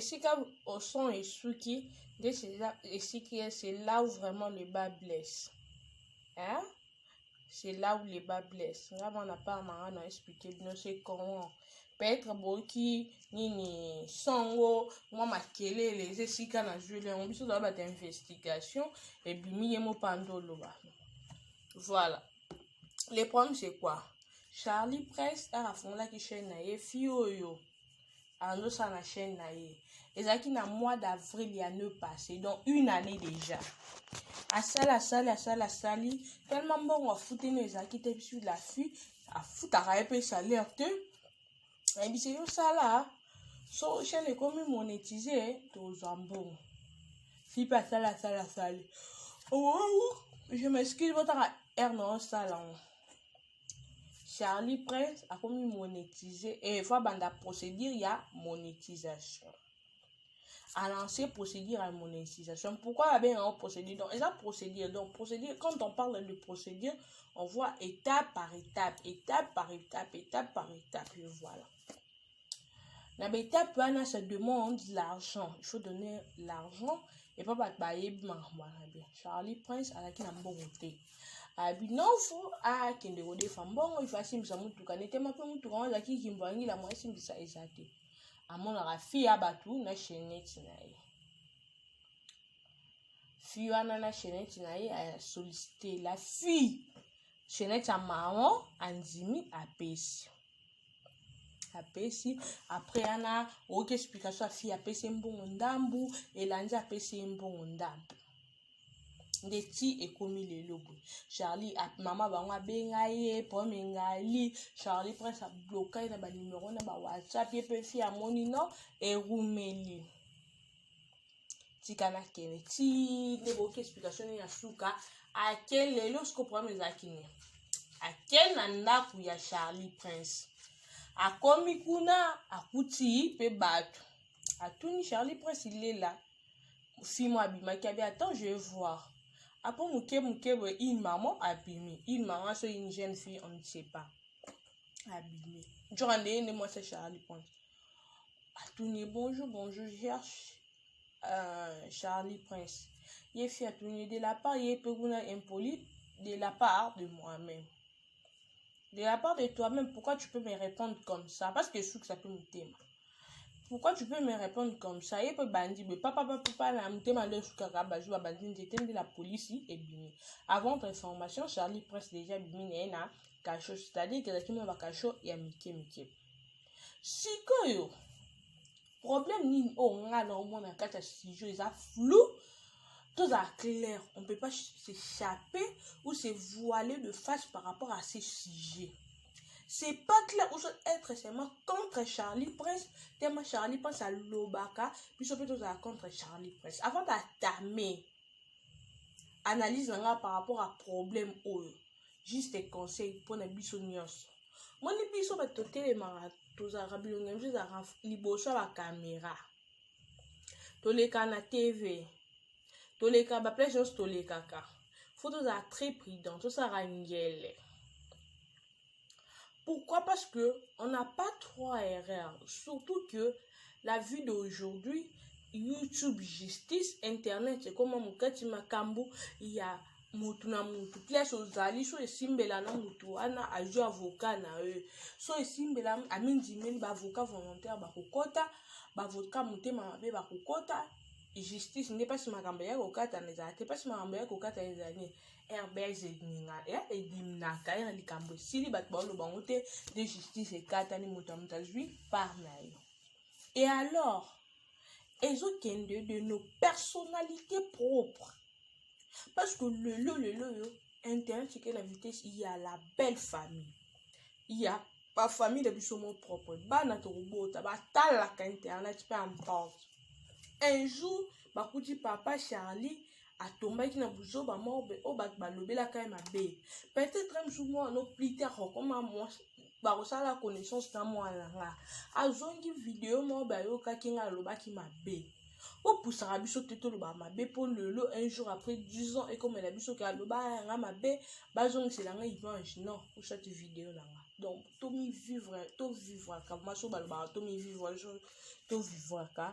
esika oson esuki nde esiki ye c'est là où vraiment le bas blesse hein? c'est là où le bas blesse nga mwana part na nga na expliquer bino c'est comment peut-être boyoki nini songo mwa makelele eza esika nazweli yango biso tozala bata investigation ebimi ye mopanda oloba voilà le problème c'est quoi charlie press aka afungolaki chaîne na ye fi oyo azosala na chaîne na ye ezalaki na mois d'avril ya ne passé donc une année déjà asali asali asali asali tellement mbongo afuteli ezalaki te bisu la fille afutaka ye mpe salaire te ayebisi yo sala so chaine ekomi monetise tozwa mbongo si mpe asali asali asali owowu je m'excuse botaka aire na osala yango charlie prince akomi monetise e eh, fo abanda procédure ya monétisation à lancer procédure à monétisation. Pourquoi la bien en procédure Donc, la procédure. Donc, procédure, quand on parle de procédure, on voit étape par étape, étape par étape, étape par étape, et voilà. La étape, on ça demande l'argent. Il faut donner l'argent et pas battre bah, bien. Charlie Prince, à la qui n'a pas voté. abi nofu akende kodefa mbongo ifasimbisa motuka netema mpe motuka wana azalaki kimbo yangi la mwasimbisa eza te amonaka fille ya batu na chainete na ye fille wana na chainete na ye asolicite la fille chainete ya maron andimi apesi apesi apres yana oyoki explication ya fille apesi ye mbongo ndambu elandi apesi ye mbongo ndambu nde ti ekomi lelo boye charlie mama bango abenga ye pome ngali charlie prince abloka ye na banimero na bawhatsapp ye mpe fi amoni no erumeli tika nakende ti nde boyoki explication nini ya suka ake lelo siko problème ezalaki nini ake na ndako ya charlie prince akomi kuna akuti mpe bato atuni charlie prince ilela fimo abimaki abi attends je vais voir apo moke moke boye une maman abimi une maman so une jeune fille on ne sait pas abimi njoka ndeye nde mwasi ya charlie prince atuni ye bonjour bonjour cherche euh, charlie prince ye fi atuni ye de la part ye mpe kuna impoli de la part de moi-même de la part de toi-même pourquoi tu peux me répondre comme ça parce que esukisa mpe motema pourquoi tu peux me répondre comme ça ye mpe bandi boye papapapapa na motema nde esukaka bazwi babandi nzete nde la polisi ebimi avant votre information charlie prince déjà bimi na ye na kasho c'est-à-dire ezalaki mwa bakasho ya mike mike sikoyo problème nini oyo oh, ngai na omona na kati ya studio eza flou tozala clair on peut pas s'échapper ou se voiler de face par rapport à ces sujets c'est pas clair ou soit être seulement contre charlie prince tema charlie prince alobaka biso mpe tozala contre charlie prince avant datame analyse na ngai par rapport à problème oyo juste conseil mpo na biso nyonso moni biso bato totelemaka tozalaka bilongi ya biso ezalaka liboso ya bakamera toleka na tv toleka baplace nyonso tolekaka fo tozala très prudent tosalaka ngele Pourquoi Parce que on n'a pas trop à erreur. Surtout que la vie d'aujourd'hui, YouTube justice, Internet, c'est comme Mukati Makambu, il y a mutu na mutu place ozali so esimbela na mutu wana azwi avocat na ye so esimbela amindimeli baavocat volontaire bakokɔta baavocat motema mabe bakokɔta justice nde mpasi makambo ya kokatana ezala te mpasi makambo ya kokatana ezali airbelge eninga e edimnaka ena likambo esili bato baoloba yango te nde justice ekatani moto ya moto azwi part na yo e alors ezokende de nos personnalités propres parce que lelo lelo oyo internet eke na vitesse ya la belle famille ya bafamille na biso mo propre bana tokobota batalaka internet mpe emporte un jour bakuti papa charlie atombaki na buzoba moko boye oyo bato balobelaka ye mabe peut-être mosusu mwana no plus tard okoma mwasi bakosala connaissance na mwana na nga azongi video moko boye ayokaki ngai alobaki mabe bopusaka biso te toloba mabe mpo lelo un jour après 10 ans ekomela biso ke aloba yanga mabe bazongisela nga image non osati video na nga donc tomivivre tovivwaka maso balobaka tomivivre tomivivwaka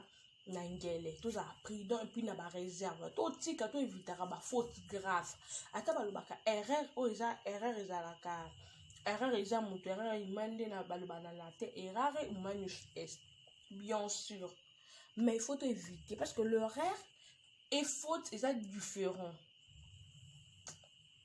na ngele tozala prudent epuis na bareserve totika to evitaka bafaute grave ata balobaka erreur oyo eza erreur ezalaka erreur eza moto erreur ima nde na baloba na latin errare humanus est bien sûr mais il faut éviter parce que l'horaire et faute eza différent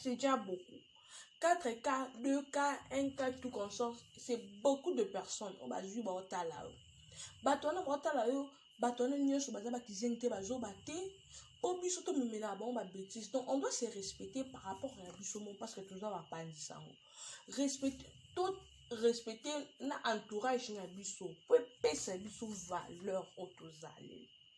c'est déjà beaucoup 4 cas 2 cas 1 cas tout consort c'est beaucoup de personnes oyo bazwi baotala yo bato wana baotala yo bato wana nyonso baza bakizengi te bazoba te mpo biso tomemelaka bango babétise donc on doit se respecter par rapport ya biso mo parce que toza bapanzi sango respecte to respecte na entourage na biso mpo epesa biso valeur oyo tozali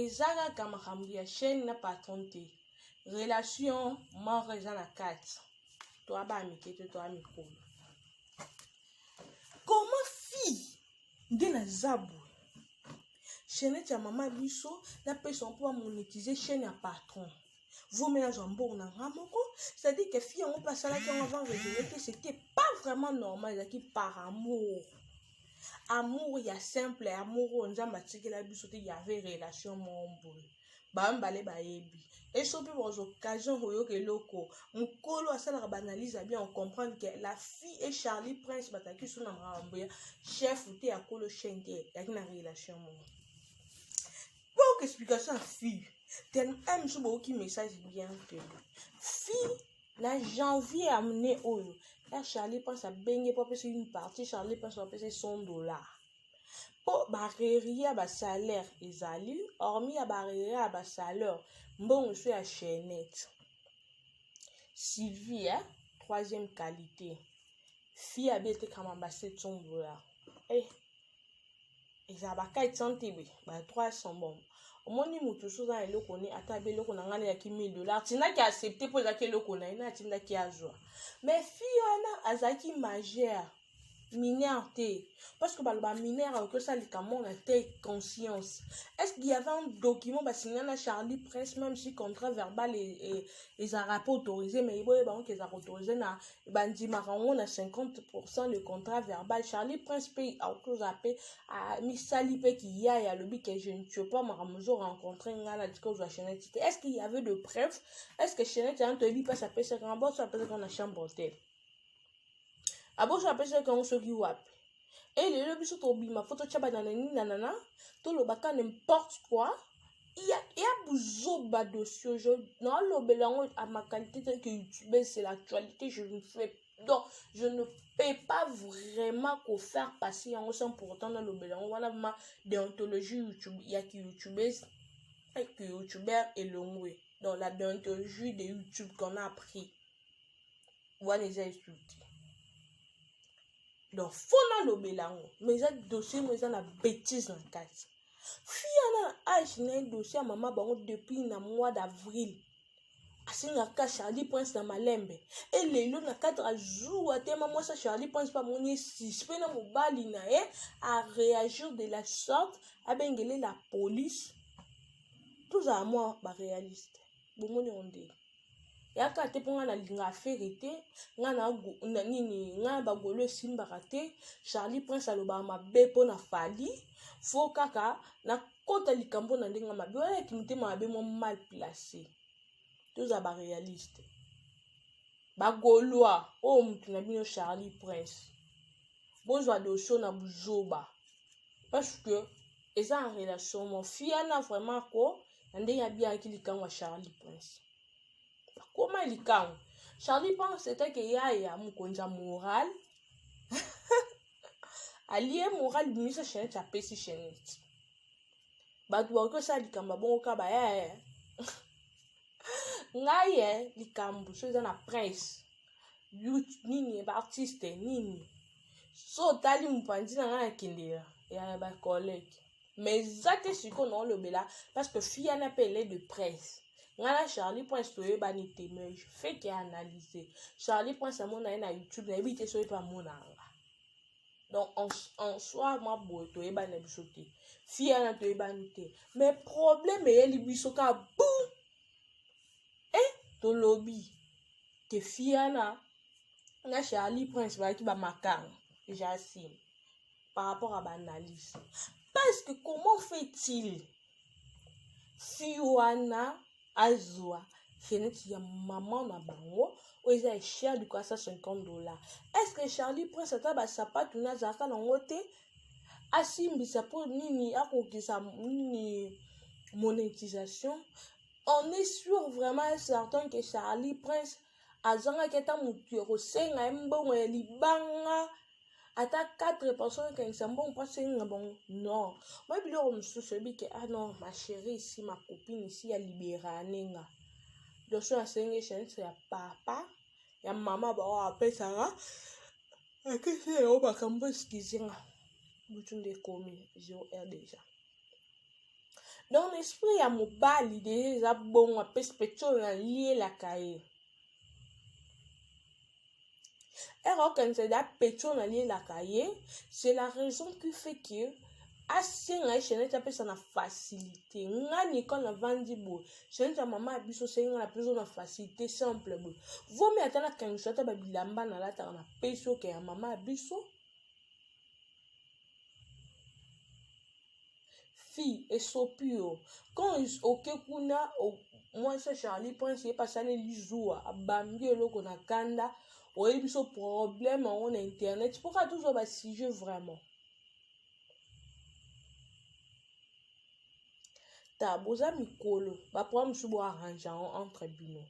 eza kaka makambo ya chaîne na patron te relation moko eza na kati toa baa mike to toa mikolo koma fille nde naza boye chainete ya mama biso napesa mpo bamonetize chaîne ya patron vaut mieux nazwa mbongo na nga moko c'est-à-dire que fille yango mpe asalaki yango avant raisonne te c'était pas vraiment normal ezalaki par amour amour ya simple amour oyo nzambe atikela biso te yave relation moko boye bamibale bayebi eso mpe baz occasion koyoka eloko mokolo asalaka baanalyse ya bien ocomprendre ke la fille et charlie prince bazalaki so na makambo ya chef te ya kolo chaine te yaki na relation moko Bonne explication à fille. Tena aime ce beau qui message bien que fille na janvier amené oyo. Là Charlie pense à bengue pour passer une partie, Charlie pense à passer 100 dollars. mpo barriere ya basalaire ezali hormi ya barriere ya basalaire mbongo so ya chainette sylvie ya troisième qualité fille abietekama ba 700 dollars eh. eza ba kite santebe ba trois sont bon omoni motu so oza na eloko ne ata be eloko na ngai nayaki 1000 dollar tindaki accepte mpo ezalaki eloko na ye na atindaki azwa mais fille wana azalaki majeur mineur te parce que baloba mineur akoki osala likambo na te conscience est ce qu'il y avait un document basinga na charlie presse même si contrat verbal ezalaka mpe autorise mais eboye bango ke ezalaka autorise na bandimaka yango na 50 pourcent le contrat verbal charlie prince mpe autoza mpe misali mpe kiyaya alobi ke je ne tue pas makambo ozo rencontre ngai na tika ozwa chenete te est ce qu'il y avait de preuve est ce que chenete yango toyebi mpasi apesaka yango boso apesaka yango na chambre te aboso apesaka yango soki wapi e eh, lelo biso tobima fo totya bananani na nana tolobaka n'importe quoi ya, ya buzoba dossier aujourd'hui nalobela yango à ma qualité tant que youtubeur c'est l'actualité je ne fais donc je ne peux pas vraiment kofaire passer yango sans pourtant nalobela yango wana ma déontologie youtube ya ki youtubeuse que youtubeur elongwe dans la déontologie de youtube qu'on a appris wana eza esuki donc fo nalobela yango ma eza dossier mo eza na bétise na kati fille ana na age na ye dossier ya mama bango depuis na mois d'avril asengaka charlie prince na malembe e lelo na 4 jour atema mwasi ya charlie prince mpe amoni ye suspect na mobali na ye areagir de la sorte abengele la police tozala mwa baréaliste bomoni yango nde yaka te mpo ngai nalinga afere te ngai na nini ngai bagolo esimbaka te charlie prince alobaka mabe mpo na fali fo kaka nakota likambo na ndenge mabe wana ya kimitema mabe mwa mal place toza barealiste bagolois oyo oh, motu na bino charlie prince bozwa dosio na buzoba parce que eza en relation mo fiana vraiment ko na ndenge abiyaki likango ya charlie prince akoma likango charlie prince etake yaya mokonzi ya moral alie moral bimisa chenete apesi chenete bato bakoki osala likambo ya bongo ka bayaya ngai ye likambo so eza na prince but nini baartiste nini so otali mopanzi na ngai na kindela ya bacollege mais eza te sikoyo naolobela parce que fille wana mpe ele de presse ngai na charlie prince toyebani te mais feke analyse charlie prince amona ye na youtube nayebi te soki mpe amona yanga donc en, en soi mwa boye toyebani na biso te fille wana toyebani te mais problème eyeli biso ka bu e eh, tolobi ke fille wana na charlie prince bazalaki bamakanga jasime par rapport à baanalyse parce que comment fait-il fi wana azwa feneti ya mama na bango oyo eza ya cher du kasa 50 dollar est ce que charlie prince ata basapatu na azalaka nango te asimbisa mpo nini akokisa nini monétisation on est sûr vraiment certain que charlie prince azangaki ata motu ya kosenga ye mbongo ya libanga ata 4 personne ekangisa mbongo mpo asenga bango non moi biloko mosusu oyebi ke ah non ma chérie isi ma copine isi ya liberane nga doso asengi chanse ya papa ya mama bao apesaka akisi yango makambo esikizi nga butu nde ekomi 0 heure déjà donc na esprit ya mobali deja eza bongo apesi peti oyo nalielaka ye ere okanisa da peti oyo nalielaka ye c'est la raison qui fait que asenga ye shenete apesa na facilité nga nikol navandi boye shenete ya mama ya biso sengi nga na biso na facilité simple boye vomi ata nakangisa ata babilamba nalataka na pesi oke ya mama ya biso fille esopi yo quand oke kuna mwasi ya charlie prince ye pasaleli zuwa abambi eloko na kanda oyebi biso problème yango na internet mpo kaka tozwa basujet vraiment ta boza mikolo baproblème mosusu bo arrange yango entre bino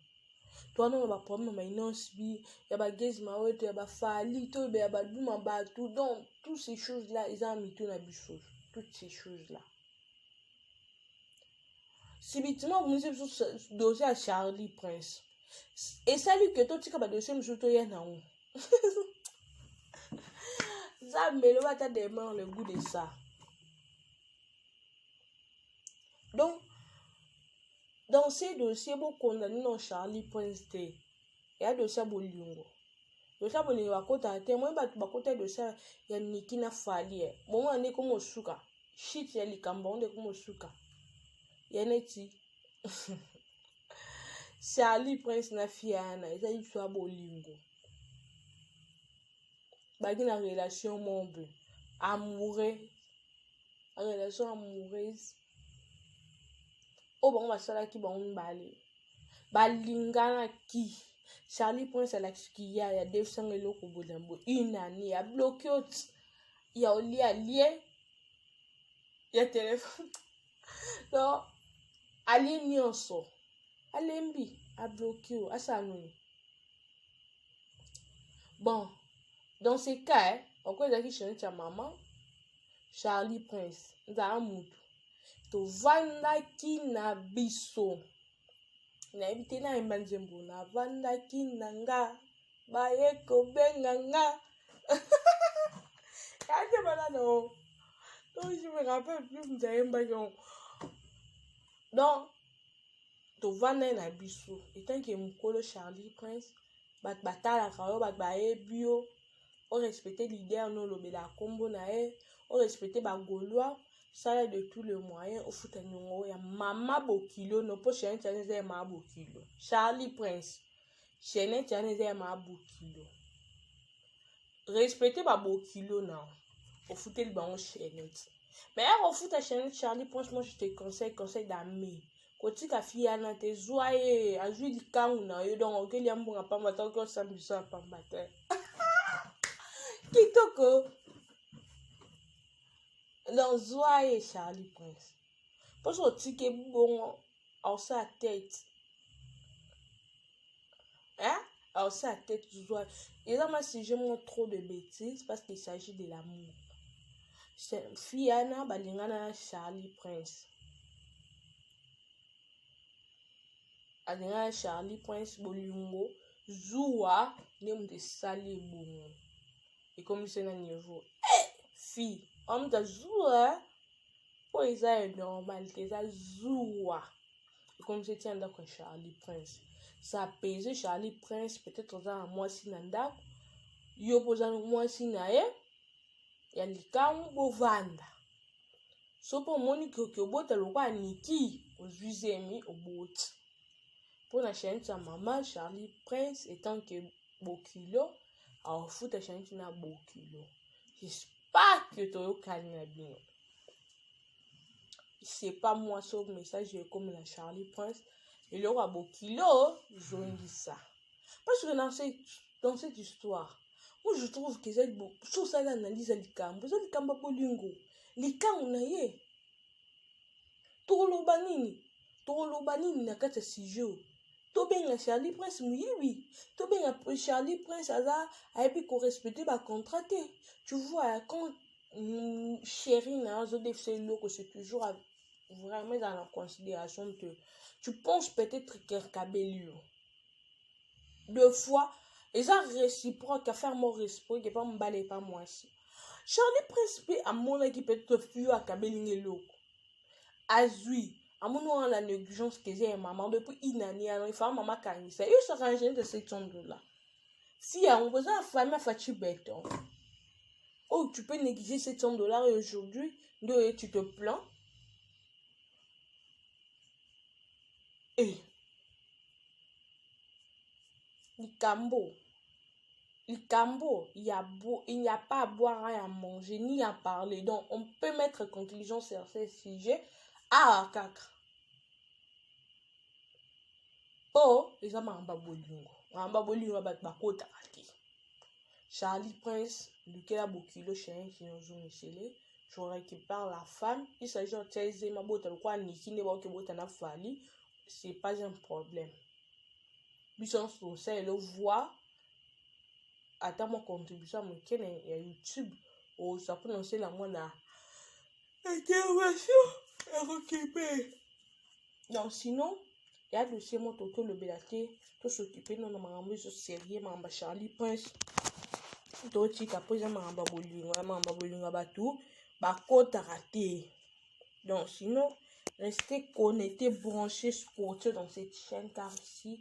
to wana na baproblème ya mainosb ya bagezi maweto ya bafali to be ya baduma bato donc toutes ces choses là eza na mitu na biso toutes ces choses là sibitima obimisi biso dossier ya charlie prince esali ke totika badossier mosusu toya na yango nzambe eloba ata demeure le goût de ça donc dans ce dossier bokondani non charlie prince te eya dossier ya bolingo dossier ya bolingo bakotaka te moi bato bakota dossier ya niki na falie eh. bomona nde ekomosuka shit ya likambo yango nde ekomosuka ya neti charlie prince na fiana eza liso ya bolingo baki na relation moko boye amoureux relation amoureuse oyo bango basalaki bango mibale balinganaki charlie prince alakisi kiya ya defsanga eloko boye na boye une année ya bloke oti ya olie alie ya telefone donc alie nyonso alembi abloki yo asala nini bon dans ce cas eh, oko ezalaki chainete ya mama charlie prince nzala mutu tovandaki na biso nayebi te nayemba nzembo navandaki na nga baye kobenga nga kake banano donc je me rappelle plus nzayembaki yango donc tovanda ye na biso etant ke mokolo charlie prince bato batalaka yo bato bayebi yo orespecte leader no olobela nkombo na ye orespecte bagaulois sala de tout le moyen ofuta niongo ya mama bokilo no mpo charlie eza ya mama bokilo charlie prince chaînette wana eza ya mabokilo respecte babokilo na ofuteli bango chaînette mais ya kofuta chaînette charlie franchement je te conseille conseil d'ami kotika fiana te zwa ye azwi likangu na yo donc okeli ya mbonga pamba te oki osambisa ya pamba te kitoko donc zwa ye charlie prince mpo soki otiki ebongo aosala tete hein? aosala tete zwa eza ma sujet moko trop de bêtise parce qu'il s'agit de l'amour fille ana balingana na charlie prince alingana charlie prince bolingo zuwa nde moto esali ebongo ekomisi na niveau eh, fille omuta zuwa oyo oh, eza ya normal te eza zuwa ekomisi etia ndako ya charlie prince sa pese charlie prince peut-être oza na mwasi na ndako yo mpo oza mwasi na ye ya likangu bovanda so mpo omoni koki obota lokola niki ozwi zemi oboti mpo na chanete ya mama charlie prince etant ke bokilo aofuta chanete na bokilo pake toyokani na bino c'est pas moi so message ekomela charlie prince eloko ya bokilo zongisa parce que dans cette, dans cette histoire moi je trouve que ezali soki osali analyse ya likambo eza likambo ya bolingo likango na ye tokoloba nini tokoloba nini na kati ya sujet oyo tobenga charlie prince moyibi tobenga charlie prince aza ayebi korespecte bacontrat te tu vois ya quand mm, chéri na yo azodefisa eloko c'est toujours vraiment ezala na considération te tu penses peut-être kerkabelio deux fois eza réciproque affaire moko réciproque epa mobali epa mwasi charlie prince mpe amonaki peut-être fio akabeli nge eloko azwi amoni wana na négligence que eza ya mama mpe mpo inani yana efaa mama akangisa yo saka ingénieur de 700 dollars si yango boza na famille afaci beton oyo tu peux négliger 700 dollars aujourd'hui nde oye tu te plains eh. likambo likambo ya bo il n'y a pas à boire à ya manger ni à parler donc on peut mettre conclusion sur ce sujet awa ah, kaka mpo oh, eza makambo ya bolingo makambo ya bolingo ya bato bakotaka te charlie prince lukela bokilo chien kino ozomisele je récupère la femme il s'agit ya tia eze mabota lokola niki nde baoki bota na fali c'est pas un problème biso nyonso tosala elo voir ata mwa contribution ya moke na ya youtube oza mpona osala mwana intervention ya kokipe donc sinon ya dossier moko toki olobela te tosokipe no na makambo ezo serie makambo ya charlie prince totika mpo eza makambo ya bolingo ya makambo ya bolingo ya bato bakotaka te donc sinon restez connecté branché scotché dans cette chaîne car ici